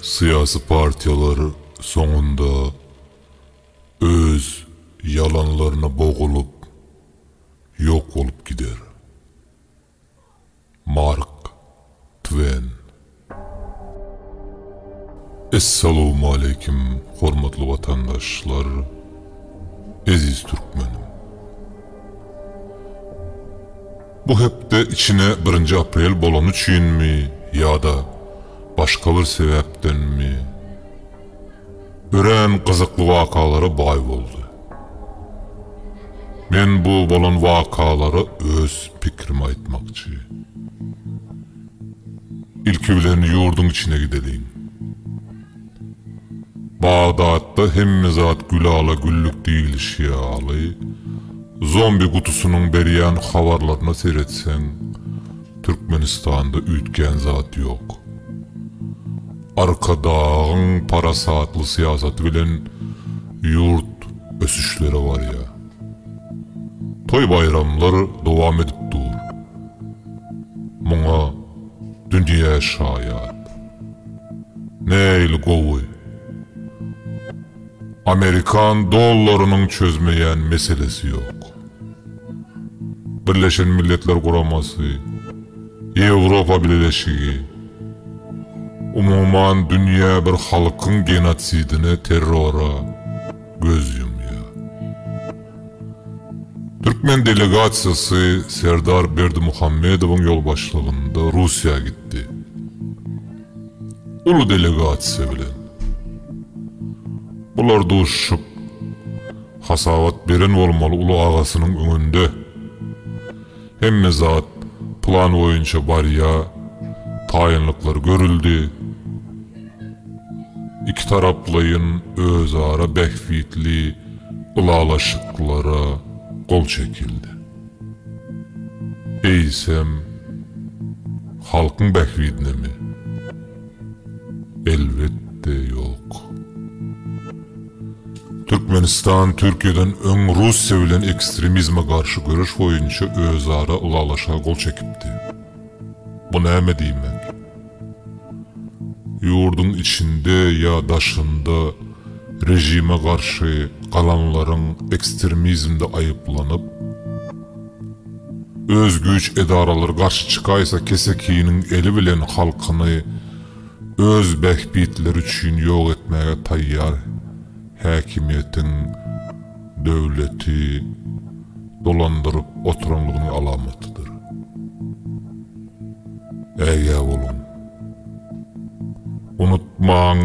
Syýasy partiýalar soňunda öz ýalanlaryna bogulyp ýok bolup gider. Mark Twen. Essalowmaleýkim hormatly watandaşlar eziz türkmenim. Bu hepde içine birinji aprel bolany üçinmi ýa-da başga bir sebäpdenmi, örän gyzykly wakalara baý boldy. Men bu bolan wakalara öz pikrimi aýtmakçy. Ilki bilen ýurduň içine gideliň. Bagdatda hemme zat gülala-güllük diýlişi ýaly, zombi gutusynyň berýän habarlaryna seretseň, Türkmenistanda üýtgän zat ýok. Arkadagyň parasatly syýasaty bilen ýurt ösüşlere barýar. Toý-baýramlar dowam edip dur. Muňa dünýä şaýat. Nähili gowy. Amerikan dollarynyň çözmeýän meselesi ýok. Birleşen Milletler Guramasy, Ýewropa Bileleşigi, umuman dünýä bir halkyň genotsidine, terrora, göz ýumýar. Türkmen delegasiýasy Serdar Berdimuhamedowyň ýolbaşçylygynda Russiýa gitdi. Uly delegasiýa bilen. Bular duşuşyp, hasabat beren bolmaly uly agasynyň öňünde. Hemme zat plan boýunça barýa, taýynlyklar görüldi. Ikitaraplaýyn özara bähbitli ylalaşyklara gol çekildi. Eýsem, halkyň bähbidinemi? Elbetde ýok. Türkmenistan Türkiýeden öň Russiýa bilen ekstremizme garşy göreş boýunça özara ylalaşyga gol çekipdi. Bu näme diýmek? Ýurduň içinde ýa daşynda režime garşy galanlaryň ekstremizmde aýyplanyp, Öz güýç edaralary garşy çykaýsa kesekiniň eli bilen halkyny öz bähbitleri üçin ýok etmäge taýýar häkimiýetiň döwleti dolandyryp oturanlygynyň alamatydyr. Ägä boluň. Unutmaň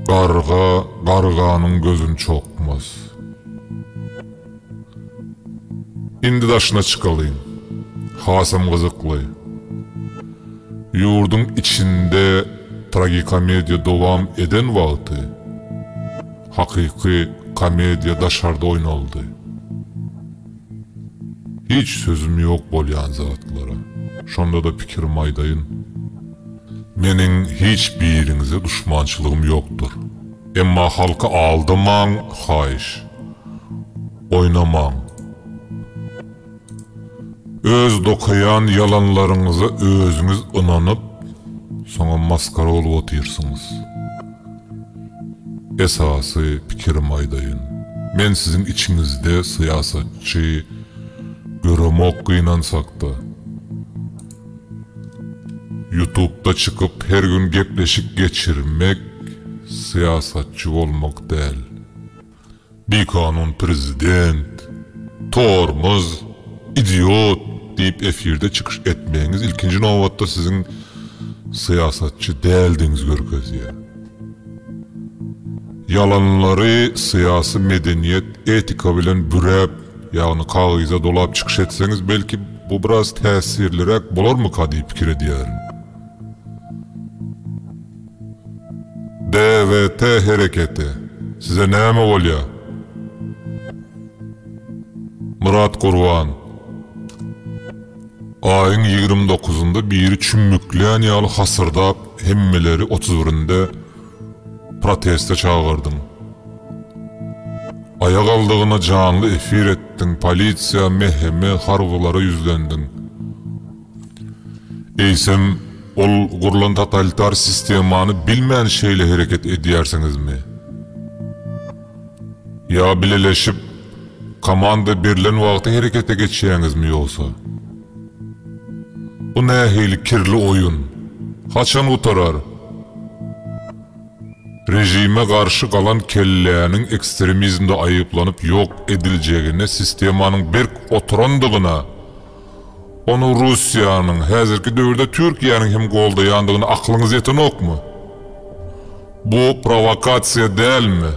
garga garganyň gözün çokmaz. Indi daşyna çykalyň. Hasam gyzykly. Ýurduň içinde tragikomediýa dowam eden wagty, hakyky komediýa daşarda oýnaldy. Hiç sözüm ýok bolýan zatlara. Şonda-da pikirimi aýdaýyn. Meniň hiç biriňize duşmançylygym ýokdur. Emma halky aldamaň haýyş. Oýnamaň. Öz dokaýan ýalanlaryňyza özüňiz ynanyp, soňam masgara bolup otyrsyňyz. Esasy pikirimi aýdaýyn. Men siziň içiňizde syýasatçy göremok gynansakda. Ýutubda çykyp her gün gepleşik geçirmek syýasatçy bolmak däl. Bikanun prezident, tormoz, idiot diýip efirde çykyş etmegiňiz ilkinji nobatda siziň syýasatçy däldigiňizi görkezýär. Ýalanlary syýasy medeniýet etika bilen büräp Ýagny kagyza dolap çykyş etseňiz belki bu biraz täsirliräk bolarmyka diýip pikir edýärin. DWT hereketi. Size näme bolýa? Myrat Gurban. Aýyň ýigrimi dokuzynda biri çümmüklän ýaly hasyrdap hemmeleri otuz birinde Proteste çagyrdyň. Aýagaldygyna janly efir etdiň, polisiýa, MHM, harbylara ýüzlendiň. Eýsem, ol gurlan totalitar sistemany bilmän şeýle hereket edýärsiňizmi? Ýa bileleşip, komanda berlen wagty herekete geçýäňizmi ýogsa? Bu nähili kirli oýun? Haçan gutarar? Režime garşy galan kelläniň ekstremizmde aýyplanyp ýok ediljegine sistemanyň berk oturandygyna, ony Russiýanyň, häzirki döwürde Türkiýäniň hem goldaýandygyna aklyňyz ýetenokmy? Bu prowokasiýa dälmi?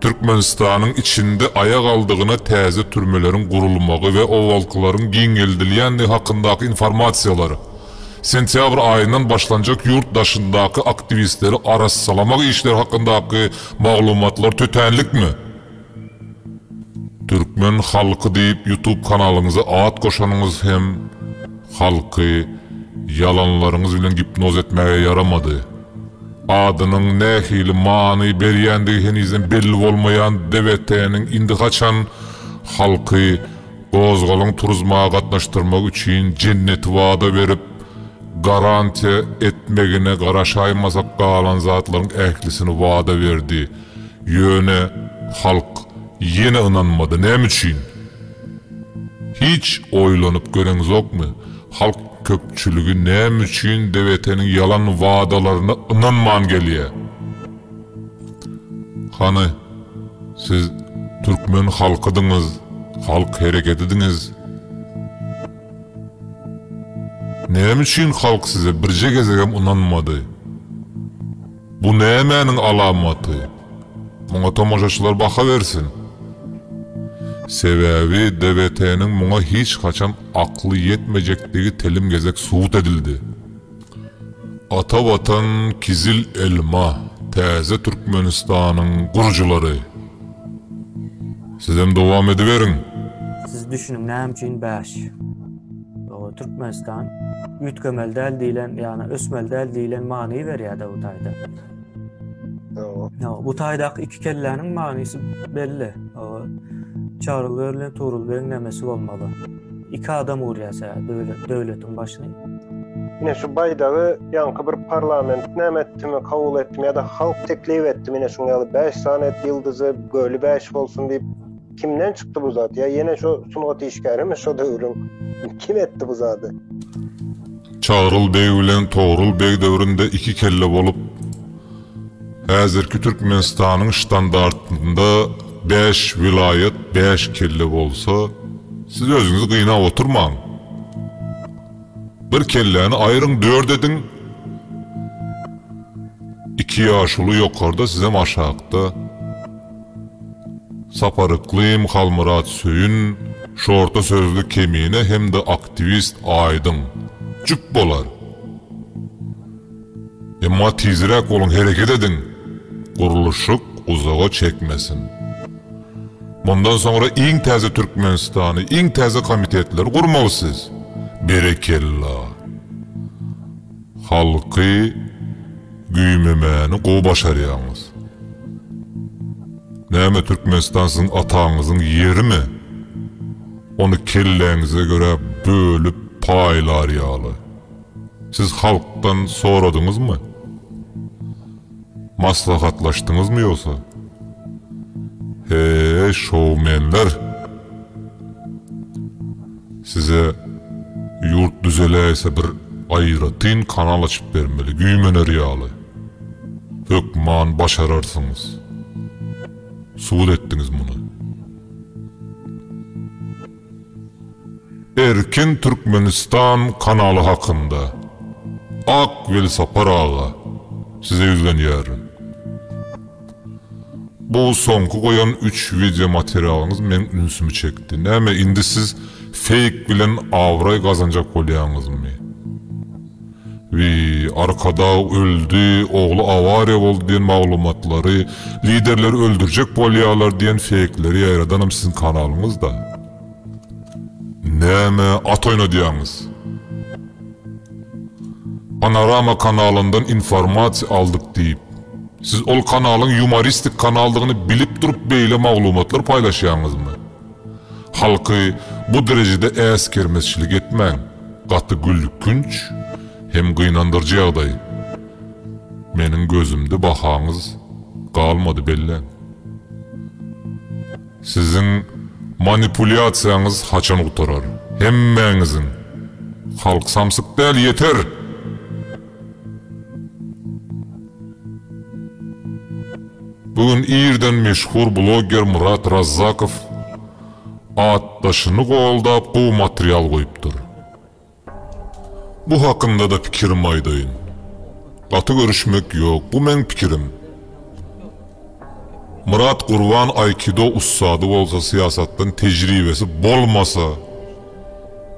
Türkmenistanyň içinde aýak aldygyna täze türmeleriň gurulmagy we owalkylaryň giňeldilýändigi hakyndaky informasiýalar, sentýabr aýyndan başlanjak ýurt daşyndaky aktiwistleri arassalamak işleri hakyndaky maglumatlar tötänlikmi? Türkmen halky diýip ýutub kanalyňyza at goşanyňyz hem halky ýalanlaryňyz bilen gipnoz etmäge ýaramady. Adynyň nähili many berýändigi henizem belli bolmaýan DWT-niň indi haçan halky gozgalaň turuzmaga gatnaşdyrmak üçin jenneti wada berip, garantiýa etmegine garaşaýmasak galan zatlaryň ählisini wada berdi, ýöne halk ýene ynanmady. Näme üçin? Hiç oýlanyp göreňzokmy, halk köpçüligi näme üçin DWT-niň ýalan wadalaryna ynanman gelýä? Hany, siz türkmen halkydyňyz, halk hereketidiňiz. Näme üçin halk size birje gezegem ynanmady? Bu nämäniň alamaty? Muňa tomaşaçylar baha bersin. Sebäbi DBT-niň muňa hiç haçan akly ýetmejekdigi telim gezek subut edildi. Ata Watan, Kizil elma, täze Türkmenistanyň gurujylary! Sizem dowam ediberiň! Siz düşüniň näme üçin bäş. Türkmenistan üýtgemeli däl diýlen ýagny ösmeli däl diýlen many berýär DBT-de. Ýa, bu taýdaky iki kelläniň manysy belli. Çary berlen Tugrul begiň nämesi bolmaly? Iki adam urýasa döwletiň başyny. Ine şu baýdagy ýaňky bir parlament näme etdimi, kabul etdimi ýa-da halk teklip etdimi, ine şuň ýaly bäş sany et ýyldyzy, göli bäş bolsun diýip. kimden çykdy bu zat? Ya yine şu sungat işgäri mi şu döwrüň? Kim etti bu zadı? Çagrul beg bilen Togrul beg döwründe iki kelle bolup, häzirki Türkmenistanyň ştandartynda 5 vilaýat 5 kelle bolsa, siz özüňizi gynap oturmaň. Bir kelläni aýryň, dört ediň. Iki ýaşuly ýokarda, sizem aşakda. Sapar Yklym, Halmyrat Söýün, şorta sözli kemine hem-de aktiwist Aýdyň, jüp bolar. Emma tizräk boluň, hereket ediň, gurluşyk uzaga çekmesin. Mundan soňra iň täze Türkmenistany, iň täze komitetleri gurmaly siz. Berekella! Halky güýmemäni gowy başarýaňyz. Näme Türkmenistan siziň ataňyzyň ýerimi? Ony kelläňize görä bölüp paýlar ýaly. Siz halkdan soradyňyzmy? Maslahatlaşdyňyzmy ýogsa? Heý, şoumenler! Size ýurt düzeläýse bir aýratyn kanal açyp bermeli, güýmener ýaly. Hökman başararsyňyz. Subut etdiňiz muny. Erkin Türkmenistan kanaly hakynda. Ak Welsapar aga, size ýüzlenýärin. Bu soňky goýan üç wideo materialyňyz meň ünsümi çekdi. Näme indi siz feýk bilen abraý gazanjak bolýaňyzmy? Wiý, Arkadag öldi, ogly awariýa boldy diýen maglumatlary, liderleri öldürjek bolýarlar diýen feýkleri ýaýradanam siziň kanalyňyz-da. Näme at oýnadýaňyz? Panorama kanalyndan informasiýa aldyk diýip, siz ol kanalyň ýumoristik kanaldygyny bilip durup beýle maglumatlar paýlaşýaňyzmy? Halky bu derejede äsgermezçilik etmäň, gaty gülkünç hem gynandyrjy ýagdaý. Meniň gözümde bahaňyz galmady belläň. Siziň manipulýasiýaňyz haçan gutarar? Hemmäňiziň! Halk samsyk däl, ýeter! Bu gün irden meşhur blogger Murat Razzakow atdaşyny goldap gowy material goýupdyr. Bu hakynda-da pikirimi aýdaýyn. Gaty görüşmek ýok, bu meň pikirim. Myrat Gurban aýkido ussady bolsa syýasatdan tejribesi bolmasa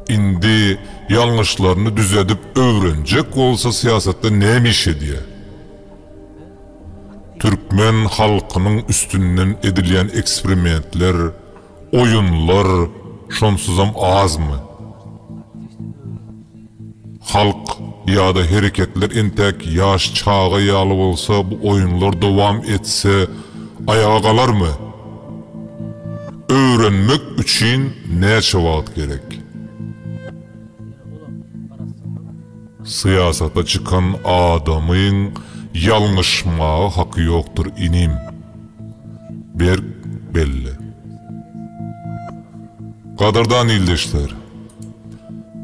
indi ýalňyşlaryny düzedip öwrenjek bolsa syýasatda näme iş edýä. Türkmen halkynyň üstünden edilýän eksprimentler, Oýunlar şonsuzam azmy? Halk ýa-da hereketler entäk ýaş çaga ýaly bolsa bu oýunlar dowam etse aýaga galarmy? Öwrenmek üçin näçe wagt gerek? Syýasata çykan adamyň ýalňyşmaga haky ýokdur inim. Berk belli. Gadyrdan ildeşler!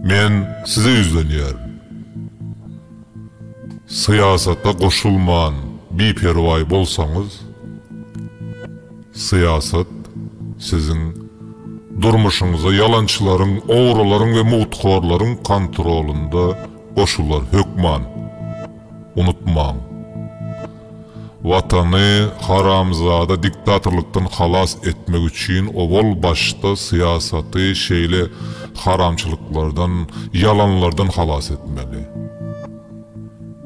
Men size ýüzlenýärin. Syýasata goşulman biperwaý bolsaňyz, syýasat siziň durmuşyňyza ýalançylaryň, ogrularyň we mugthorlaryň kontrolynda goşular hökman. Unutmaň! Watany haramzada diktatorlykdan halas etmek üçin owal başda syýasaty şeýle haramçylyklardan, ýalanlardan halas etmeli.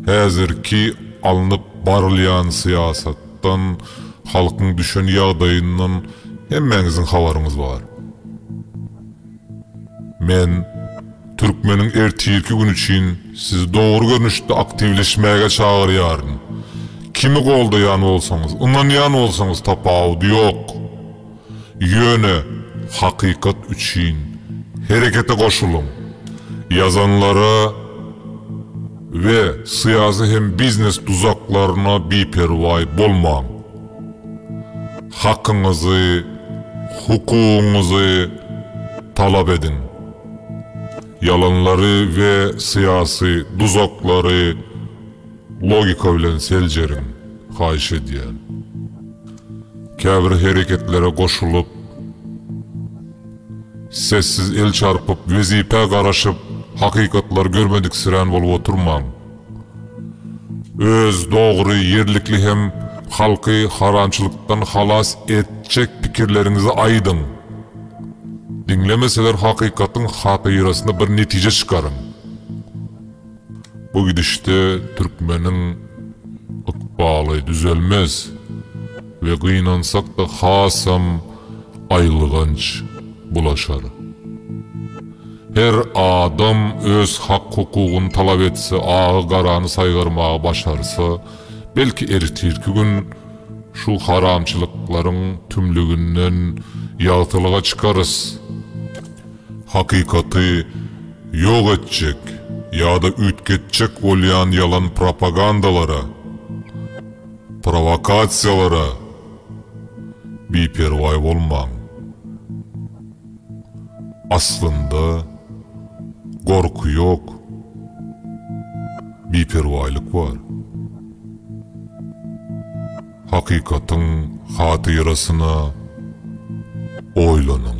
Häzirki alnyp barylýan syýasatdan, halkyň düşen ýagdaýyndan hemmäňiziň habaryňyz bar. Men Türkmeniň ertirki güni üçin sizi dogry görnüşde aktiwleşmäge çagyrýaryn. Kimi goldaýan bolsaňyz, ynanýan bolsaňyz tapawudy ýok. Ýöne hakykat üçin herekete goşulyň. Ýazanlara we syýasy hem biznes duzaklaryna biperwaý bolmaň. hakyňyzy, hukugyňyzy talap ediň. Ýalanlary we syýasy duzaklary logika bilen seljeriň, haýyş edýän. Käbir hereketlere goşulyp, sessiz el çarpyp, wezipä garaşyp, hakykatlar görmediksirän bolup oturmaň. Öz dogry, ýerlikli hem halky haramçylykdan halas etjek pikirleriňizi aýdyň. Diňlemeseler hakykatyň hatyrasyna bir netije çykaryň. Bu gidişde türkmeniň ykbaly düzelmez. we gynansakda hasam aýylganç bulaşar. Her adam öz hak-hukugyny talap etse, agy-garany saýgarmagy başarsa, belki ertirki gün şu haramçylyklaryň tümlüginden ýagtylyga çykarys. Hakykaty ýok etjek ýa-da üýtgetjek bolýan ýalan propagandalara, Prowokasiýalara biperwaý bolmaň. Aslynda gorky ýok, biperwaýlyk bar. Hakykatyň hatyrasyna oýlanyň.